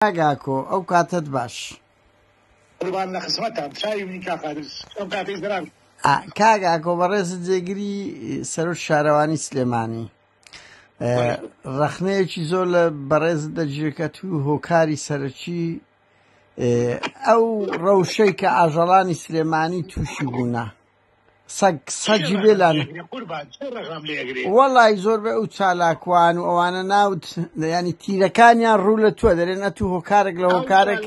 کاک ئاکۆ ئەو کاتەت باش. قوربان لە خزمەتتام چاوی منی کاک قادر ئەو کاتەی زەرار. کاک ئاکۆ بەڕێزت جێگری سەرۆک شارەوانی سلێمانی ڕەخنەیەکی زۆر لە بەڕێزت دەجێکەت و هۆکاری سەرەکی ئەو ڕەوشەی کە ئاژەڵانی سلێمانی تووشی بوونە سەگ سەگی بێلان وەڵی زۆر بە ئەو چالاکوان و ئەوانە ناوت ینی تیرەکانیان ڕوو لە توە دەرێن ئە تو هۆکارێک لە هۆکارێک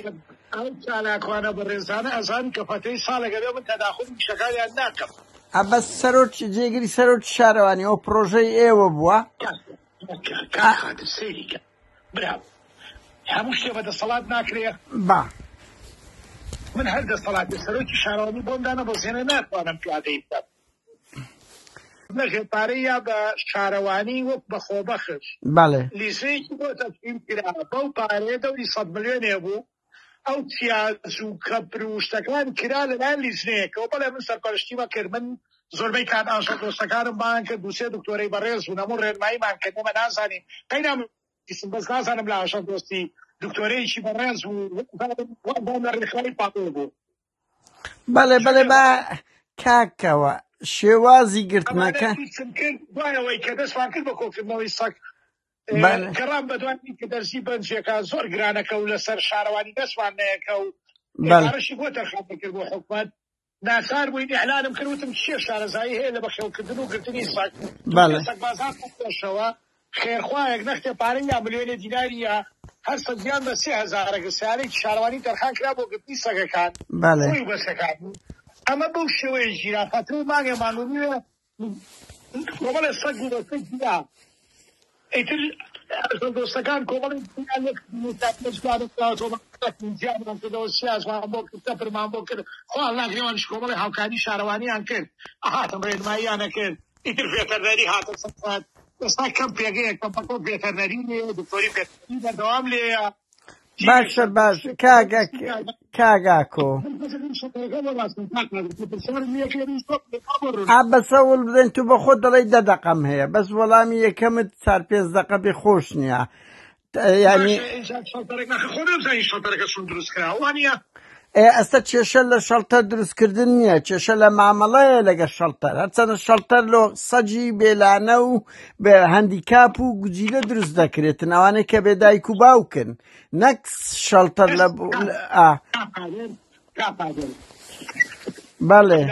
ئەو چالاکوانە بەڕێزانە ئەزان کە پەتەی ساڵێکە لێ من تەداخل شەکاریان ناکەم ئەبە سەرۆک جێگری سەرۆک شارەوانی ئەو پرۆژەی ئێوە بووە برا هەموو شتێ بە دەسەڵات ناکرێ. با. من هەر دەسەڵاتێ سەرۆکی شارەوانی بۆم دانەبەزێنێ ناتوانم پیادەی بکەم. نە ژێرپارەی یا بە شارەوانی وەک بە خۆبەخش. بەڵێ. لیژەیەکی بۆ تەسویم کرا بەو پارەیە دەوری سەد ملیۆنێ بوو. ئەو تیاج و کەپر و شتەکان کرا لەلایەن لیجنەیەکەوە، بەڵێ من سەرپەرشتیم ئەکرد، من زۆربەی کات ئاژەڵدۆستەکانم بانگ کرد، دوو سێ دکتۆرەی بەڕێز بوون هەموو ڕێنماییمان کرد، ئێمە نازانین قەینا بیستم بەس نازانم لە ئاژەڵدۆستی دکتۆرەیەکی بەڕێز بوو وابووم لە ڕێکخراوی پاپۆ بوو. بەڵێ بەڵێ با کاکەوە شێوازی گرتنەکە ئەمانە بیستم کرد دوای ئەوەی کە دەستمان کرد بە کۆکردنەوەی سەگ گەڕام بە دوانی کە دەرسی بەنجەکان زۆر گرانەکە و لەسەر شارەوانی دەستمان نەیەکە و بەڕشی بۆ تەرخان بکرد بۆ حکومت ناچار بووین ئەلانم کردوتم چیە شارەزایی هەیە لە بەخێوکردن و گرتنی ساک سەکبازانشەوە خێرخواەک نەختێ پارە یا ملیۆنێ دیناریە هەر سەدیان بە سێ هزارە گەسیارەی شارەوانی تەرخان کرا بۆ گرتنی سەگەکان بەسەکان ئەمە بەو شێوەیە ژیرا خەتر و مانگێ مانونیە کۆمەڵێ سەگ و بەسەی جودا ئیتر ئەژەڵ دۆستەکان کۆمەڵێ جودا لەک موسافرە جودا دەکراوەتەوە بەقسەکن جیامان کردەوە سیازمان بۆ کرد تەپرمان بۆ کرد خۆ ئەڵا گرێوانیش کۆمەڵێ هاوکاری شارەوانیان کرد ئەهاتن ڕێنماییان ئەکرد ئیتر ڤێتەرنەری هاتە سەر خەت ئێستا کەم پێگەیەکە بەکەم ڤێتەرنەری لێیە دکتۆری ڤێتەرنەری بەردەوام لێیە باشە باش کاگە کاگاکۆ ئا بەسە وڵ بدەن تو بە خۆ دەڵی دە دەقەم هەیە بەس وەڵامی یەکەمت چار پێنج دەقە بێ خۆش نییە ینی ئەی ئەستە کێشە لە شەڵتەر دروستکردن نییە کێشە لە مامەڵەیە لەگە شەڵتەر هەرچەنە شەڵتەر لۆ سەجی بێلانە و بە هەندیکاپ و گوجیلە دروست دەکرێتن ئەوانەی کە بێ دایک و باوکن نەک شەڵتەر لە بەڵێ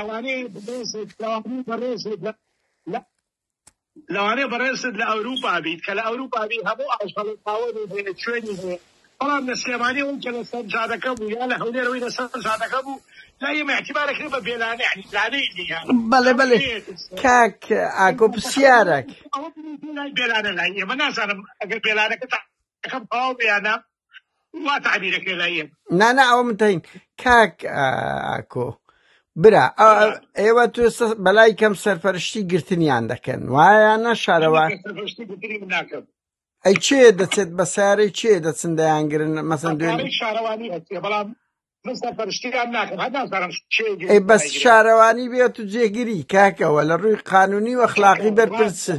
لەوانەیە بەڕێزت لە ئەوروپا بیت، کە لە ئەوروپا بیت هەموو ئاژەڵێک خاوەنی هەیە، چوێنی هەیە، بەڵام لە سلێمانی ئەوەی کە لەسەر جادەکە بوو یان لە هەولێر ئەوەی لەسەر جادەکە بوو لای ئێمە ئیعتیبار ئەکرێت بە بێلانە، یانی لانەی نییە. بەڵێ بەڵێ کاک ئاکۆ پرسیارەک. ئەوە بریتییە لای بێلانە، لای ئێمە نازانم ئەگەر بێلانەکەتان. ئەکەم تەواو بێ یانە وا تعبیرەکە لای یەک نا نا ئەوە من تین کاک ئا، ئاکۆ برا ئا، ئا، ئێوە تو سە- بەلای کەم سەرپەرشتی گرتنیان دەکەن وایە نە شارەوان هەندێک سەرپەرشتی گرتنی من ناکەم ئەی چێ دەچێت بە سارەی چێ دەچن دەیانگرن مەسەن دوێن بەکارەی شارەوانی ئەچێ بەڵام من سەرپەرشتیان ناکەم هەر نازانم کێ گرێ ئەی بەس دایگرێ. شارەوانی بێت و جێگیری کاکەوە لە ڕووی قانونی و ئەخلاقی کاکە، بەرپرس ڕاستە.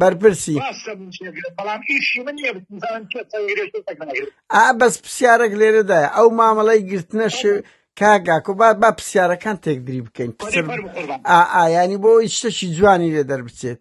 بەرپرسی ڕاستە من چێگرم بەڵام ئیشی من نییە بزانم کێ سەنگرێت کێ سەنگناگرێت ئا بەس پرسیارێک لێرەدایە ئەو مامەڵەی گرتنە شێ کاگاکۆ با با پرسیارەکان تێکدری بکەین وەدی پرسر فەرمو قوربان ئا ئا ینی بۆ ئەوەی شتەکی جوانی لێ دەربچێت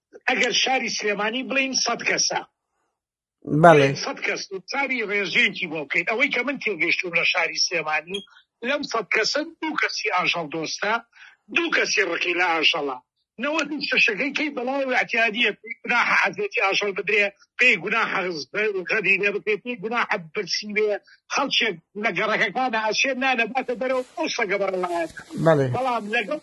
ئەگەر شاری سلێمانی بڵین سەد کەسە سەد کەس ساری ڕێژەیەکی بۆ بکەین ئەوەی کە من تێگەشتوم لە شاری سلێمانی لەم سەد کەسە دوو کەسی ئاژەڵ دۆستە دوو کەسی ڕقی لە ئاژەڵە نەوە شەشەکەی کەی بەڵاو اعتیادیە گوناح حەزێتی ئاژەڵ بدرێ پێی گوناح غەدی لێ بکرێ پێی گوناح برسی بێ خەڵکێک لە گەڕەکەکانە ئەشێ نانەباتە بەرەو ئەو سەگە بەڕڵایەنە بەڵام لەگەڵ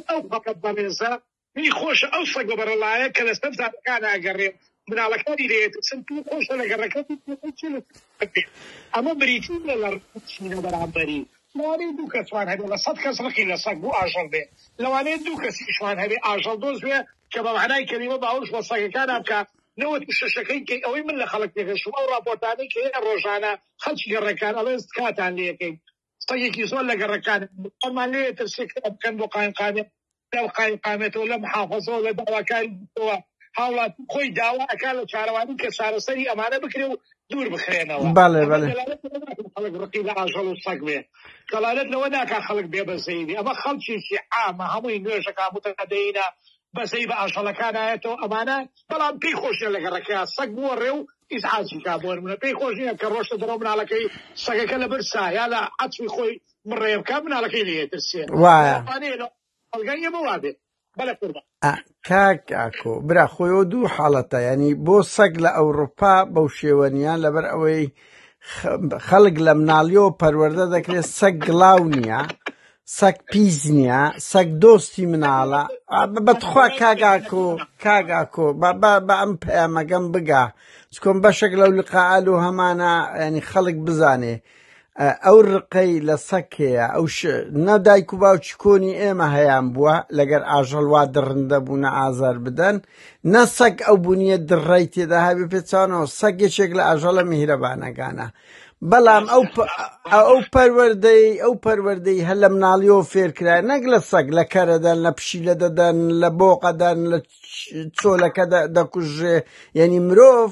ئەو فەقەت بەڕێزە پێی خۆشە ئەو سەگە بەڕەڵایە کە لەسەر جادەکان ئەگەڕێ مناڵەکانی لێ ئەترسن، پێی خۆشە لە گەڕەکە بچێتەوە چی لەسەر جادە بکرێت، ئەمە بریتی نیە لە ڕقی چین لە بەرامبەری، لەوانەیە دوو کەسمان هەبێ لە سەد کەس ڕقی لە سەگ و ئاژەڵ بێ، لەوانەیە دوو کەسیشمان هەبێ ئاژەڵدۆست بێ کە بە مەعنای کەلیمە باوەش بە سەگەکانا بکا، نەوەد و شەشەکەی کەی، ئەوەی من لە خەڵک تێگەشتووم ئەو ڕاپۆرتانەی کە هەیە ڕۆژانە خەڵکی گەڕەکان ئەڵێن تکاتان لێ ئەکەین سەگێکی زۆر لە گەڕەکانە ئەمان لێ ئەترسێ کە بکەن بۆ قایمقامیە لەم قایمقامەتەوە لە محافەزەوە لە داواکاری دیکەوە هاوڵاتی خۆی داوا ئەکات لە چارەوانی کە چارەسەری ئەمانە بکرێ و دوور بخرێنەوە بەڵێ بەڵێ خەڵک ڕقی لە ئاژەڵ و سەگ بێ دەڵالت لەوە ناکا خەڵک بێ بەزەی بێ ئەمە خەڵکیی عامە هەمووی نوێژەکە متەقەدەینە بەزەی بە ئاژەڵەکان نایەتەوە ئەمانە بەڵام پێی خۆشە لە گەڕەکە سەگ بووە ڕێ و ئیزعاجی کا بۆرمونە پێی خۆش نییە کە ڕۆشتە دەرەوە مناڵەکەی سەگەکە لە برسا یا لە عەتفی خۆی بڕێ بکە مناڵەکەی لێ ترسێ وایە ئەڵگای ئێمە وابێ بەلە قوربان کاک ئاکۆ برا خۆیەوە دوو حاڵەتە ینی بۆ سەگ لە ئەوروپا بەو شێوەنیان لەبەر ئەوەی خەڵک لە مناڵیەوە پەروەەردە دەکرێت سەگ گڵاو نییە سەگ پیس نییە سەگ دۆستی مناڵە بەتخوا کاگاکۆ کاگاکۆ بە ئەم پەیامەگەم بگا چکۆم بەشێک لەو لقاعال و هەمانە ینی خەڵک بزانێ ئەو ڕقەی لە سەگ هەیە ئەو نە دایک و باوکی کۆنی ئێمە هەیان بووە لەگەر ئاژەڵ وا دڕندە بوونە ئازار بدەن نە سەگ ئەو بوونیە دڕای تێدا هاوی پێچانەوە سەگ یەکێک لە ئاژەڵە میهرەبانەکانە بەڵام ئەو ئەو پەروەردەی ئەو پەروەردەی هەر لە مناڵیەوە فێرکرا نەک لە سەگ لە کەرەدەن لە پشیلە دەدەن لە بۆقەدەن لە چۆلەکە دەکوژێ یعنی مرۆڤ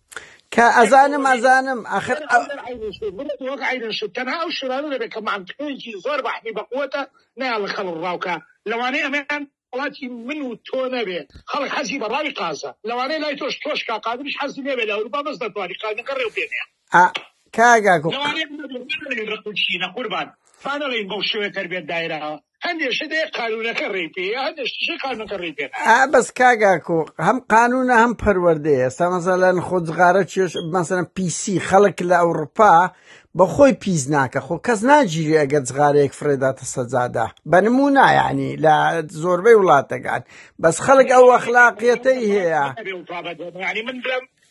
کە ئەزانم ئەزانم ئاخر ئەگەر ئەو دەر عەینی شت ببێت وەک عەینی شت تەنها ئەو شتانە دەبێت کە مەنتقێکی زۆر بەحمی بەقوەتە نایان لە خەڵک ڕاو کا لەوانەیە ئەمەیان وڵاتی من و تۆ نەبێ خەڵک حەزی بە ڕاوی قازە لەوانەیە لای تۆش تۆش کا قادریش حەزی لێ بێ لە ئەوروپا بەس دەتوانی قازەکە ڕێو پێ نەیە ئا کاک ئاکۆ لەوانەیە بمەوێ بانەڵێین ڕق و چینە قوربان بانەڵێین بەو شێوەیە تەربێت دایراوە هەندێک شت هەیە قانونەکە ڕێی پێ یا هەندێک شتیشی قانونەکە ڕێی پێ نایە. ئا بەس کاگاکۆ هەم قانونە هەم پەروەردەیە ئێستا مەسەلەن خۆ جغارە چێش مەسەلەن پیسی خەڵک لە ئەوروپا بە خۆی پیس ناکە خۆ کەس ناگیری ئەگە جغارەیەک فرێداتە سەجادا بە نمونا یعنی لە زۆربەی وڵاتەکان بەس خەڵک ئەو ئەخلاقیەتەی هەیە یعنی من بڵێم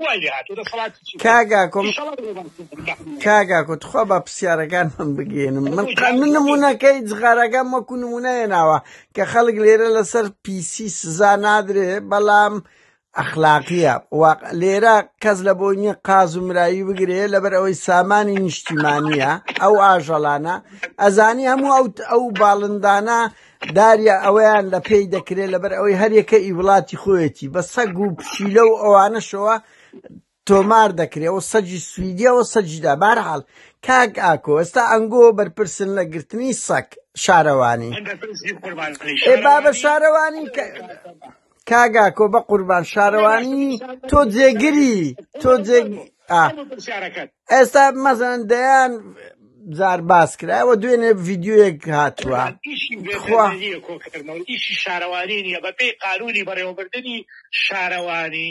وای لێ هاتوو دەسەڵاتی چی بوو کاگا کۆم ئیشەڵا بۆ باس کردن بەحمە کاگا کو تخوا با پرسیارەکان من بگێنم من بۆ قا- جاری من بۆ بێ نمونونەکەی جغارەکان وەکو نمونەیە ناوە کە خەڵک لێرە لەسەر پیسی سزا نادرێ بەڵام ئەخلاقیە واق لێرە کەس لە بۆی نییە قاز و مراوی بگرێ لەبەر ئەوەی سامانی نیشتیمانیە ئەو ئاژەڵانە ئەزانی هەموو ئەو ئەو باڵندانە داریا ئەوەیان لە پێی دەکرێت لەبەر ئەوەی هەرێکە ئی وڵاتی خۆیەتی بە سەگ و پشیلە و ئەوانەشەوە تۆمار دەکرێەوە سەجی سویدیەوە سەجیدا بارحاڵ کاک ئاکۆ ئێستا ئەنگۆ بەرپرسن لە گرتنی سەک شارەوانی بابە شارەوانی کاک ئاکۆ بە قوربان شارەوانی تۆ جێگری تۆ جێ ئێستا مەزەن دەیان جار باس کرایەوە دوێنێ ڤیددیوەک هاتووە ئیشی شارەوانی نیە بەپی قانونی بەڕێوەبردننی شارەوانی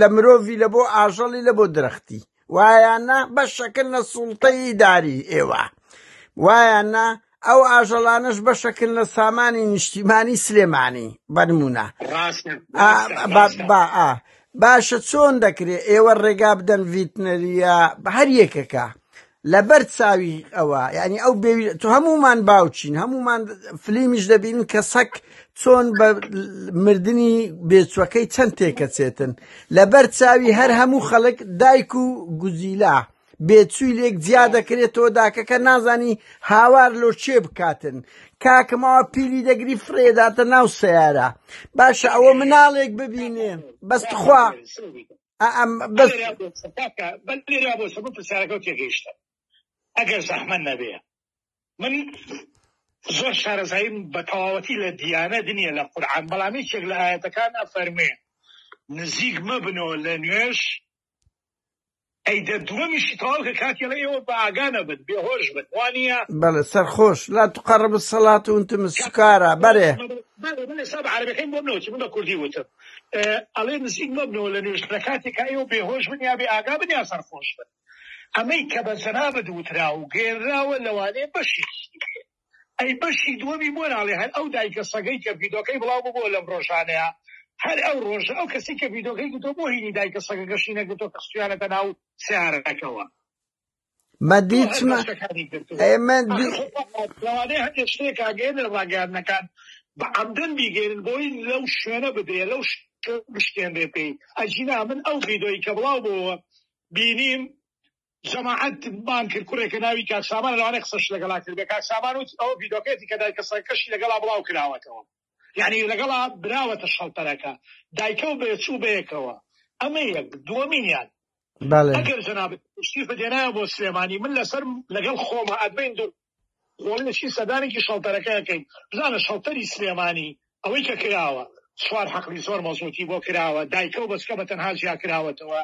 لە مرۆڤی لە بۆ ئاژەڵی لە بۆ درەختی وایانە بە شەکل لە سوڵتەی داری ئێوە وایانە ئەو ئاژەڵانش بە شەکل لە سامانی نیشتیمانی سلێمانی بەنمونە باشە چۆن دەکرێت ئێوە ڕێگا بدەن ڤیتنەریە بە هەر یەکەکە لەبەر چاوی ئەوە یعنی ئەو بێوی تۆ هەمومان باوچین هەمومان فلیمیش دەبین کە سەک چۆن بە مردنی بێچوەکەی چەند تێکەچێتن لەبەر چاوی هەر هەموو خەڵک دایک و گوزیلا بێچووی لێک جیا دەکرێت تۆ داکەکە نازانی هاوار لۆ چێ بکاتن کاکەمەوە پیلی دەگری فرێداتە ناو سیارە باشە ئەوە مناڵێک ببینێ بەستخوا بەلێریا بۆچە کاکە بەلێریا بۆچە بۆ پرسیارەکە و تێگەیشتە ئەگەر زەحمەت نەبێ من زۆر شارەزاییم بە تەواوەتی لە دیانە دنیە لە قورعان بەڵام یەکێک لە ئاەتەکان ئەفەرمێ نزیک مەبنەوە لە نوێش ئەی دە دووەمیشی تەواو کە کاتی لە ئێوە بە ئاگانە بن بێهۆش بن وانە بەڵێ سەرخۆش لا تقڕب سەڵات و تم سکارە بەرێ بەڵێ بەڵێ سەب عەرەبەکەی بۆ بنەوە چ بە کوردی وتم ئەڵێ نزیک مەبنەوە لە نوێژخانە کاتێکا ئێوە بێهۆش بن یا بێئاگا بن یا سەرخۆش بن. ئەمەی کە بە جەنابت وترا و گەیەنراوە لەوانەیە بەشێکی بێ. ئەی بەشی دووەمی بۆ ناڵێ هەر ئەو دایکە سەگەی کە ڤیدۆکەی بڵاو ببووە لەم ڕۆژانەیا هەر ئەو ڕۆژە ئەو کەسەی کە ڤیدۆکەی گرتووە بۆ هینی دایکە سەگەکەشی نەگرتووە کە خستویانەتە ناو سەیارەکەوە؟ بە دیچمە ئێمە لەوانەیە هەندێک شتێک ئاگەر لە ڕاگەیاندنەکان بە عەمدن بیگەێنن بۆی لەو شوێنە بدرێ لەو بشتێنرێ پێی ئەجینا من ئەو ڤیدۆی کە بڵاو بۆەوە بینیم جەماعەت بان کرد کوڕێکە ناوی کاکسامان لەوانێ قسەش لەگەڵا کرد کاکسامان و ئەو ڤیدۆکێتی کە دای کەسەکەشی لەگەڵا بڵاو کراوەتەوە یانی لەگەڵا براوەتە شەڵتەرەکە دایکە و بێچوو بەیەکەوە ئەمە یەک دووەمینیان ئەگەر جەنابت شیفت هێنایە بۆ سلێمانی من لەسەر لەگەڵ خۆمە ئەبین دوو خۆڵەشی سەدانێکی شەڵتەرەکەەکەین بزانە شەڵتەری سلێمانی ئەوەی کە کراوە سوار حەقلی زۆر مەزۆتی بۆ کراوە دایکە و بەسکە بە تەنها جیا کراوەتەوە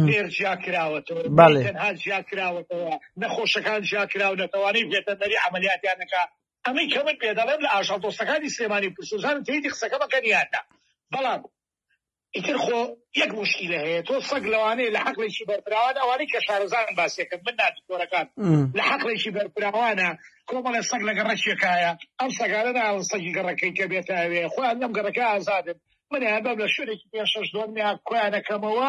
لێر جیا کراوەتەوە تەنها جیا کراوەتەوە نەخۆشەکان جیا کراونەتەوانەی بێتەنەری عملیاتیانەکە ئەمەی کە من پێ دەڵێم لە ئاژەڵ دۆستەکانی سلێمانی و پرسوزان تەیدی قسەکە مەکەن یان نا بەڵام ئیتر خۆ یەک موشکیلە هەیە تۆ سەگ لەوانەیە لە حەقلێکی بەرفراوان ئەوانەی کە شارەزان باسیەکەن من نا دکتۆرەکان لە حەقلێکی بەرفراوانە کۆمەڵێ سەگ لە گەڕەکیەکایە ئەم سەگانە ناوە سەگی گەڕەکەی کە بێتاوێ خۆیان لەم گەڕەکە ئازادن منیان بەم لە شوێنێکی پێ شەش دۆنیا کۆیانەکەمەوە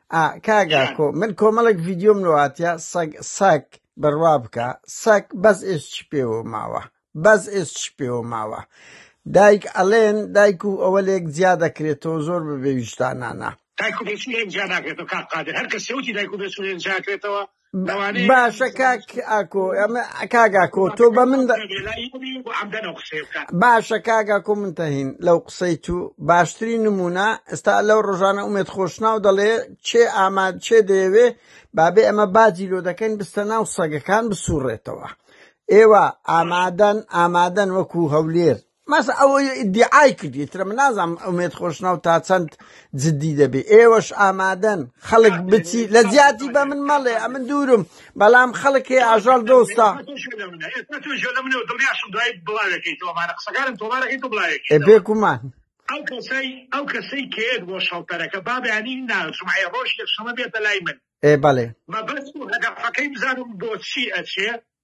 ئا کاک ئاکۆ من کۆمەڵێک ڤیدیۆم لەواتە سەگ سەگ بڕوا بکە سەگ بەس ئێس چ پێوە ماوە بەس ئێس چ پێوە ماوە دایک ئەلێن دایک و ئەوە لێک جیا دەکرێتەوە زۆر بەبێویشتانانە دایک و بێچوو لێک جیا ناکرێتەوە کاک قادر هەر کەس سەوتی دایک و بێچوو لێک جیا کرێتەوە باشە کاک ئاکۆ ئەمە کاک ئاکۆ تۆ بە من باشە کاک ئاکۆ من تەهین لەو قسەی تو باشترین نمونە ئێستا لەو ڕۆژانە ئومێت خۆشناو دەڵێ چێ ئاماد چێ دەیەوێ بابێ ئەمە باجی لۆ دەکەین بستە ناو سەگەکان بسوڕێتەوە ئێوە ئامادەن ئامادەن وەکو هەولێر مەسە ئەوەی ئیدعای کرد ئیترە من نازانم ئومێد خۆشناو تا چەند جددی دەبێ ئێوەش ئامادەن خەڵک بچی لە زیاتی بە من مەڵێ ئەمن دوورم بەڵام خەڵک هەیە ئاژەڵ دۆستا بێ گومان ئەو کەسەی ئەو کەسەی کێت بۆ شەڵتەرەکە بابیانی ناژمعی ڕۆژ یەکشەمە بێتە لای من ئێ بەڵێ مەبەست و هەدەفەکەی بزانم بۆچی ئەچێ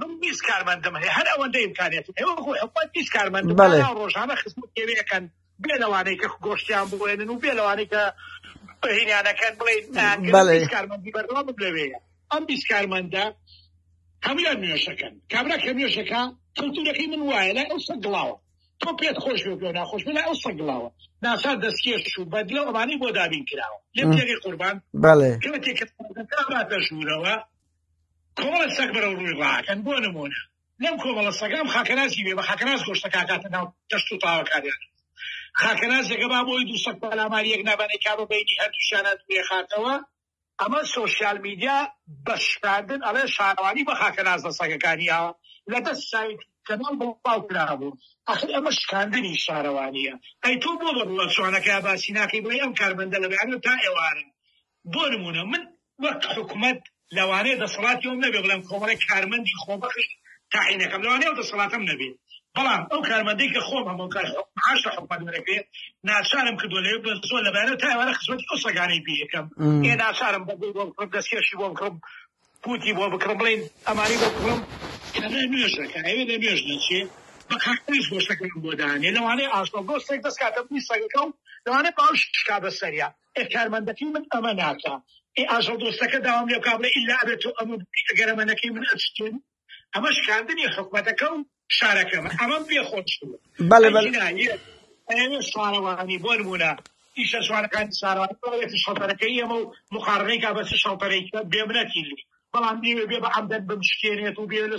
من بیست کارمەندم هەیە هەر ئەوەندە ئیمکانیاتم هەیە وەکو حکومەت بیست کارمەندم بەڵێ. هەناو ڕۆژانە خزمەت پێوێ ئەکەن بێ لەوانەی کە گۆشتیان بوێنن و بێ لەوانەی کە هینانەکەن بڵێ نانکردن بەڵێ. بیست کارمەندی بەردەوامم لەوێیە ئەم بیست کارمەندە هەمویان نوێشەکەن کابرا کە نوێشەکە کەلتورەکەی من وایە لای ئەو سەگ گڵاوە تۆ پێت خۆش بێ بێ ناخۆش بێ لای ئەو سەگ گڵاوە ناسا دەستکێش و بەدلە و ئەمانەی بۆ دابین کراوە لێم تێگەی قوربان بەڵێ کەمێکی کە دەشورەوە کۆمەڵە سەگ بەرەو ڕووی ڕاکەن بۆ نموونە لەم کۆمەڵە سەگە ئەم خاکەنازی بێ بە خاکەناز گۆشتەکە ئەکاتە ناو تەشت و تاوەکانیان خاکەنازەکە با بۆی دوو سەگ پەلاماری یەک نابانەی کا بە بەینی هەردووشیانە دوێخاتەوە ئەمە سۆشیال میدیا بە شکاندن ئەڵێ شارەوانی بە خاکەنازە سەگەکانی ئاوە لە دەست سایت کەناڵ بڵاو کرابوو ئەخر ئەمە شکاندنی شارەوانییە ئەی تۆ بۆ بە بڵە جوانەکە باسی ناکەی بڵێ ئەم کارمەندە لە بەیانە تا ئێوارە بۆ نموونە من وەک حکومەت لەوانەیە دەسەڵاتی ئەوم نەبێت بڵێم کۆمەڵێک کارمەندی خۆبەخش تاعین ئەکەم، لەوانەیە ئەو دەسەڵاتەم نەبێت، بەڵام ئەو کارمەندەی کە خۆم هەم و کە معاش لە حکومەت وەرەگرێت ناچارم کردووە لەوێ بە زۆر لە بەیانەوە تا ئێوارە خزمەتی ئەو سەگانەی پێ ئەکەم، ئێ ناچارم بەگوی بۆ بکڕم، دەستکێشی بۆ بکڕم، پووتی بۆ بکڕم، بڵێن ئەمانەی بۆ بکڕم، کە لە نوێژ ئەکا ئەوێ لە نوێژ نەچێ، بە قاقاش گۆشتەکەیان بۆ دانێ، لەوانەیە ئاژەڵ دۆستێک دەست کاتە بنی سەگەکە و لەوانەیە باوشیش کا بە سەریا. ئێ کارمەندەکەی من ئەمە ناکا ئێ ئاژەڵ دۆستەکە داوام لێ بکا بڵێ ئیلا ئەبێ تۆ ئەمە بکەی ئەگەر ئەمە نەکەی من ئەتشتێم ئەمە شکاندنی حکومەتەکە و شارەکەمە ئەمەم پێ خۆش بوو بەڵێ بەڵێ ئەگینا یە- ئەوێ شارەوانی بۆ نمونە ئیشە شوانەکانی شارەوانی بڵێتی شەڵتەرەکەی ئەمە و مقارنەی کا بەس شەڵتەرەی کە بێمنەتی لی بەڵام لێوێ بێ بە عەمدەن بمشکێنێت و بێ لە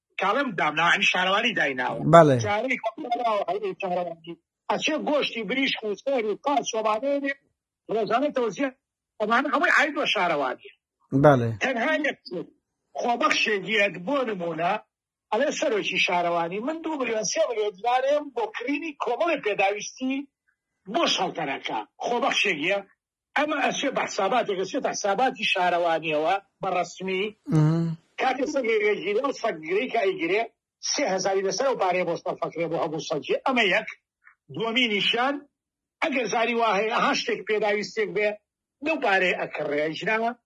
کاڵێم دامناوە یعنی شارەوانی دایناوە بەڵێ جارێک هەڵداوە هەڵی شارەوانی ئەچێ گۆشتی بریشک و سەر و قاچ سۆبانێنێ ڕۆژانە تەوزیە ئەمانە هەمووی عاید بە شارەوانی بەڵێ تەنها یەک شت، خۆبەخشێک یەک بۆ نموونە ئەڵێ سەرۆکی شارەوانی من دوو ملیۆن سێ ملیۆن دینارێم بۆ کڕینی کۆمەڵی پێداویستی بۆ شەڵتەرەکە خۆبەخشێک یە ئەمە ئەچێ بە حساباتێک ئەچێتە حساباتی شارەوانیەوە بە ڕەسمی کاتێ سەگێگەگیرێ ئەو سەگگرەی کە ئەیگرێ سێ هەزاری لەسەر ئەو پارەیە بۆ سەرفەکرێ بۆ هەموو سەگێ ئەمە یەک دووەمینیشیان ئەگەر زاری وا هەیە ها شتێک پێداویستێک بێ لەو پارەیە ئەکڕێ ژناوە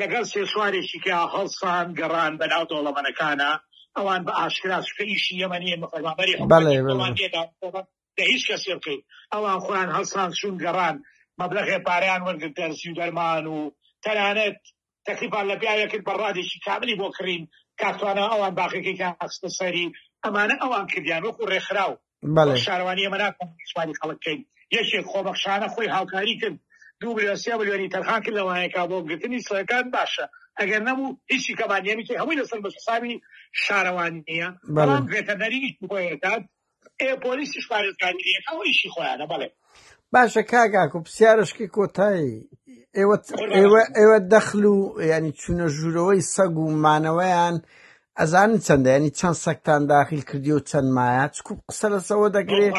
لەگەڵ سێ سوارێکی کە هەڵسان گەڕان بەناو دەوڵەمەنەکانا ئەوان بە ئاشکرا چونکە ئیشی ئێمە نیە ئێمە فەرمانبەری حکومەتی خۆمان نیە داواکاری لە هیچ کەسێ بکەین ئەوان خۆیان هەڵسان چوون گەڕان مەبلەغێ پارەیان وەرگرت دەرزی و دەرمان و تەنانەت تەکلیفان لە پیاوێ کرد بە ڕادێکی کاملی بۆ کڕین کاک توانا ئەوان باقیەکەی کە خستە سەری ئەمانە ئەوان کردیان وەکو ڕێکخراو بەڵێ شارەوانی ئێمە ناتوانین سوپاسی خەڵک بکەین یەکێک خۆبەخشانە خۆی هاوکاری کرد دوو ملیۆن سێ ملیۆنی تەرخان کرد لەوانەیەکا بۆ گرتنی سڕەکان باشە ئەگەر نەبوو هیچی کەمان نیە میکی هەمووی لەسەر بە حسابی شارەوانی نیە بەڵێ بەڵام ڤێتەرنەری ئیش بۆیەکات ئێ پۆلیسیش پارێزگاری نیە ئەو ئیشی خۆیانە بەڵێ باشە کاک ئاکۆ پرسیارشکی کۆتایی ئێوە ئێوە ئێوە دەخل و ینی چوونە ژوورەوەی سەگ و مانەوەیان ئەزان چەندە ینی چەند سەکتان داخل کردی و چەند مایە چکو قسە لەسەوە دەکرێت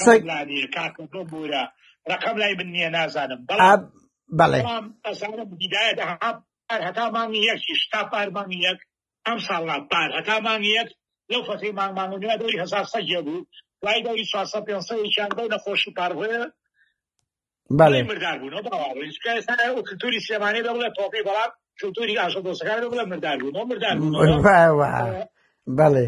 سەگ بورە ڕقم لای من نییە نازانم بەڵام بەڵێ ئەزانم هیدایەت هەتا مانگی یەکیش تا پار مانگی یەک ئەمساڵ نا پار هەتا مانگی یەک لەو فەتحی مانگ مانگ و نیوە دەوری هەزار سەگ یە بوو دوای دەوری چوار سەد پێنج سەد یەکیان بەو نەخۆشی پار هۆێ بەڵێ مردار بوون بەڵاوەی چکە ئێستا ئەو کلتوری سلێمانی بە بڵێ تۆپی بەڵام کلتوری ئاژە دۆستەکان بە بڵێ مردار بوون مردار بوون بەڵێ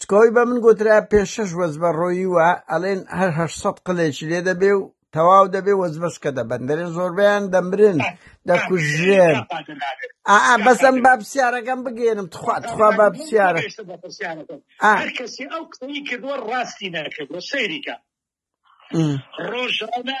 تکۆی بە من گوترا پێ شەش وەز بە ڕۆیی وە ئەلێن هەر هەشت سەد قلێکی لێ دەبێ و تەواو دەبێ وەزبەس کە دەبەن دەرێ زۆربیان دەمرن دەکوژێن ئا بەسم با پرسیارەکەم بگێنم تخوا تخوا با پرسیارە کەسی ئەو قسەی کردوە ڕاستی نەکردوە سەیریکە ڕۆژانە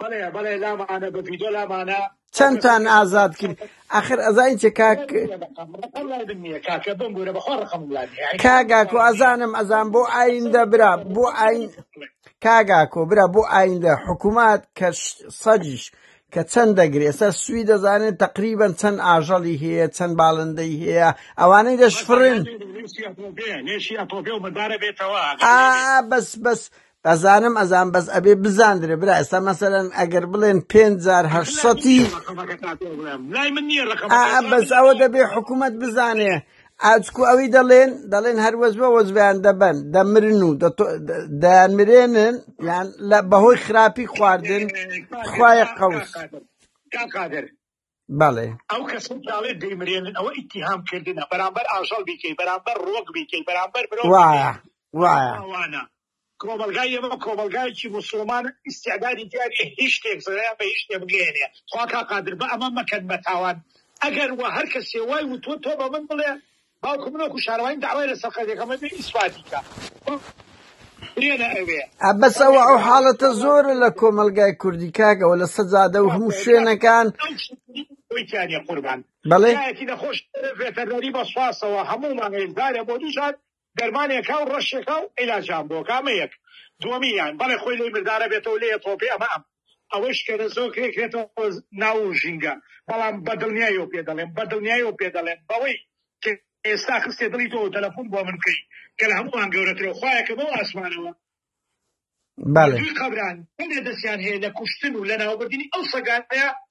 بەڵێ بەڵێ لامانە بە ڤیدۆ لامانە چەندتان ئازاد کرد ئەخر ئەزای چ کاک کاکە بم بوورە بەخۆ ڕقم کاگاکو ئەزانم ئەزان بۆ ئایندە برا بۆ ئاین کاگاکۆ برا بۆ ئایندە حکوومەت کە سەجیش کە چەند دەگرێ ئێستا سوی دەزانێت تقریبان چەند ئاژەڵی هەیە چەند باڵندەی هەیە ئەوانەی دەشفرن بەس بەس ئەزانم ئەزانم بەس ئەبێ بزاندرێ برا ئێستا مەسەلەن ئەگەر بڵێن پێنج جار هەشت سەتی بەس ئەوە دەبێ حکوومەت بزانێ ئاچکو ئەوی دەڵێن دەڵێن هەر وەزبە وەزبیان دەبەن دەمرن و دەمرێنن یان لە بەهۆی خراپی خواردن خوای قەوس بەڵێ. ئەو کەسەی کە ئەڵێ دەیمرێنن ئەوە ئیتیهام کردنە بەرامبەر ئاژەڵ بیکەی بەرامبەر ڕۆک بیکەی بەرامبەر مرۆڤ بیکەی وایە وایە. تاوانە. کۆمەڵگای ئێمە کۆمەڵگایەکی موسڵمانە ئیستعدادی تیا نیە هیچ شتێک زەیان بە هیچ شتێ بگەیەنێ خوا کا قادر بە ئەمە مەکەن بە تاوان ئەگەر وە هەر کەسێ وای وتوە تۆ بە من بڵێ باوکم من وەکو شارەوانی داوای لە سەرقەرزەکەم بێ ئیسفادی کا برێنە ئەوێ بەس ئەوە ئەو حاڵەتە زۆرە لە کۆمەلگای کوردی کاکە و لە سەجادە و هەموو شوێنەکان ویتیانە قوربان بەڵێ یەکی نەخۆش ڤێتەرنەری بە سواسەوە هەموو مانگێک دارێ بۆ دوو جار دەرمانێکا و ڕەشێکا و عیلاجان بۆ کامەیەک دووەمیان بەڵێ خۆی لەی مردارە بێتەوە لێ تۆپی ئەمە ئەم ئەوەیش کە زۆر کرێ کرێتەوە ناو ژینگە، بەڵام بە دڵنیایەوە پێ دەڵێم، بە دڵنیایەوە پێ دەڵێم، بەوەی کە ئێستا خستیە دڵی تۆ و تەلەفون بۆ من بکەی، کە لە هەمووان گەورەترە و خوایە کە بەو ئاسمانەوە، بەڵێ. دووی قەبران، بەڵێ دەستیان هەیە لە کوشتن و لەناوبردنی ئەو سەگانەیا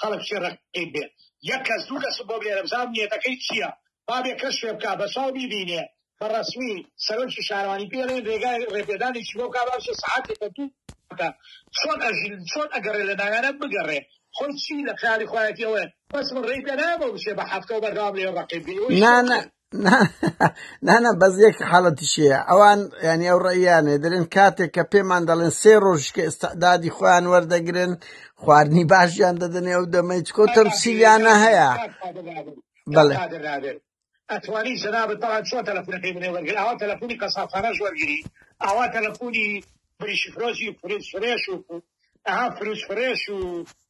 خەڵک چی ڕەقیب بێ یەک کەس دوو کەسم بۆ بنێرە بزانم نیەتەکەی چیە بابێ کەس شوێ بکا بەچاو بیبینێ بە ڕەسمی سەرۆکی شارەوانی پێڵێن رێگای ڕێپێدانێکی بۆ بکا با بچێ سەعاتێ کە دوو کە چۆن ئەژین چۆن ئەگەڕێ لە ناویانە بگەڕێ خۆی چی لە خیالی خۆیەتی ئەوێ بەس من ڕێی پێ نایەمەوە بچێ بە هەفتەو بەردەوام لێ ڕەقیب بی ئەوەی شوێ نا نا بکەن. نانا بەس یەک حاڵەتیشەیە ئەوان ینی ئەو ڕێیانێ دەرێن کاتێک کە پێمان دەڵێن سێ ڕۆژکە ئستعدادی خۆیان وەردەگرن خواردنی باشیان دەدەنێ ئەو دەمەی چکۆ تەمسیلیانە هەیە بەڵێ ئەتوانی جنابت بەڵام چۆن تەلەفونەکەی منێ وەرگر ئەوە تەلەفونی قەسافانەش وەرگری ئاوا تەلەفونی بریشفرۆزی فرێز فرێش و ئەها فروز فرێش و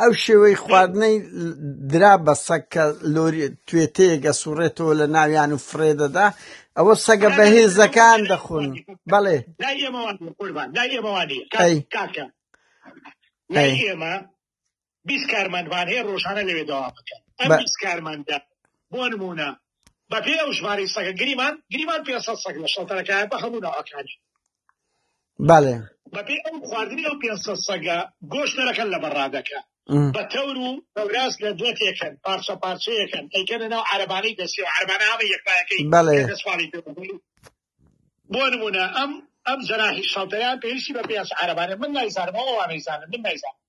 ئەو شێوەی خواردنەی درا بە سەگ کە لۆری توێتەیەک ئەسوڕێتەوە لە ناویان و فڕێ دەدا ئەوە سەگە بەهێزەکان دەخۆن بەڵێ ئێمە بیست کارمەندمان هەیە ڕۆژانە لەوێ داوا بکەن ئەم بیست کارمەندە بۆ نمونە بەپێ ئەو ژماری سەگە گریمان گریمان پێ سەگ لە شەڵتەرەکە بە هەموو ناوەکانی بەڵێ بەپێی ئەو خواردنی ئەو پێنج سەد سەگە گۆشتەرەکەن لە بەڕادەکە بە تەور و هەوراز لە دوێ تێکەن پارچە پارچەیەکەن ئەیکەنە ناو عەرەبانەی دەسی و عەرەبانە هەمە یەکپایەکەی بەڵێ کە دەسپاڵی پێ بکەی. بۆ نمونە ئەم ئەم جەناحی شەڵتەیان پێویستی بە پێنج عەرەبانە من نایزانم ئەو ئەوانەی زانن من نایزانم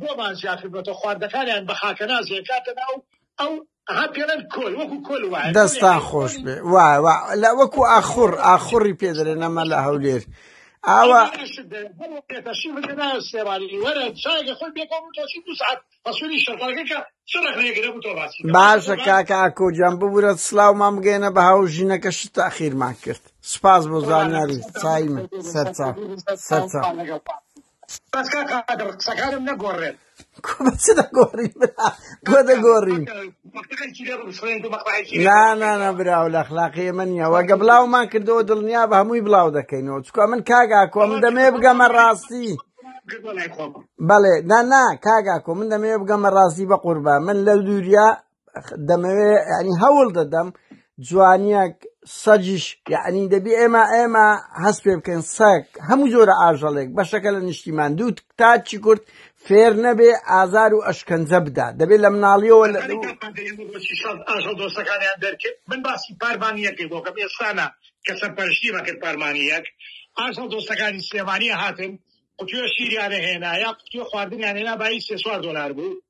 بۆمان زیاد کردۆتە خواردەکانیان بە خاکەناز ئەکاتە ناو ئەو ها پێڵێن کۆل وەکو کۆل وایە دەستان خۆش بێ وایە لە وەکو ئاخور ئاخوری پێدرێ نەمە لە هەولێر ئاوا باشە کاکە ئاکۆجان ببورە سلااومان بگەێنە بە هاو ژینەکە شت تاخیرمان کرد سپاس بۆ زانیاری چای من سەرچاو سەرچاو. بەس کاک قادر قسەکانم نەگۆڕێت کو بە چ دەگۆڕی برا بۆ دەگۆڕی مەکتەبێکی لێ بسڕێن و مەقبەعێکی لێ نا نا بسڕێن. نا براو لە اخلاقی ئێمە نییە وەگە بڵاومان کردەوە دڵنیا بە هەمووی بڵاو دەکەینەوە چکە من کاگاکۆ من دەمێ بگەمە ڕاستی گردۆ لای خۆم بەڵێ نا نا کاگاکۆ من دەمێ بگەمە ڕاستی بە قوربان من لە دووریا دەمەوێ ینی هەوڵ دەدەم جوانیەک سەجیش یعنی دەبی ئێمە ئێمە هەست پێ بکەین سەک هەموو جۆرە ئاژەڵێک بەشەکە لە نیشتیمان دوو تاچی کورد فێر نەبێ ئازار و ئەشکەنجە بدات دەبێت لە مناڵیەوە لە ئاژەڵ دۆستەکانیان دەرکرد من باسی پارمانیەکەی بۆکەم ئێستانە کە سەرپەرشتی مەکرد پارمانیەک ئاژەڵ دۆستەکانی سلێمانیە هاتن قوتوێ شیریانە هێنا یا قوتوێ خواردنیان هێنا بای سێ چوار دۆلار بوو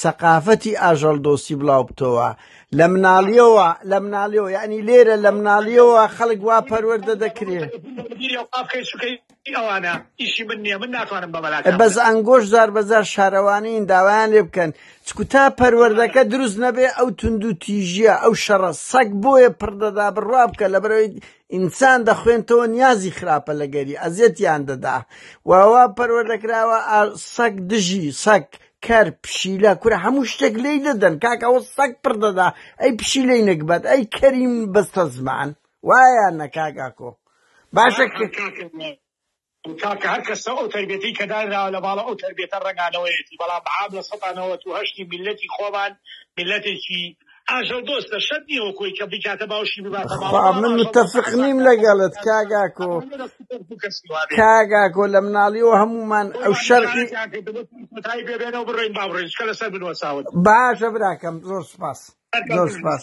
سەقافەتی ئاژەڵ دۆستی بڵاوبتەوە لە مناڵیەوە لە مناڵیەوە یعنی لێرە لە مناڵیەوە خەڵک وا پەروەەردە دەکرێ ئەوانە ئیشی من نیە من ناتوانم بەمەلا بەس ئەنگۆش زار بەزار شارەوانین داوایان لێ بکەن چکو تا پەروەردەکە دروست نەبێ ئەو توندو تیژیە ئەو شەڕە سەگ بۆیە پڕدەدا بڕوا بکە لە بەرەوەی ئینسان دەخوێنتەوە نیازی خراپە لەگەری ئەزیەتیان دەدا واوا پەروەردەکراوە سەگ دژی سەگ کەر پشیلە کورە هەموو شتێک لێی دەدەن کاک ئەوە سەگ پڕ دەدا ئەی پشیلەی نەگبەت ئەی کەریم بەستە زمان وایە نەکاگاکۆ باشە کاکە هەر کەسە ئەو تربێتی کە دانراوە لە باڵە ئەو تربێتە ڕەنگانەوەیەتی بەڵام عام لە سەدا نەوەت و هەشتی میلەتی خۆمان میلەتێکی ئاژەڵ دۆستە شەرت نیە وەک خۆی کە بیکاتە باوشی بباتە ماڵەوە بەخوا من متفق نیم لەگەڵت کاک ئاکۆ کاک ئاکۆ لە مناڵیەوە هەموومان ئەو شەرقی باشە براکەم زۆر سپاس زۆر سپاس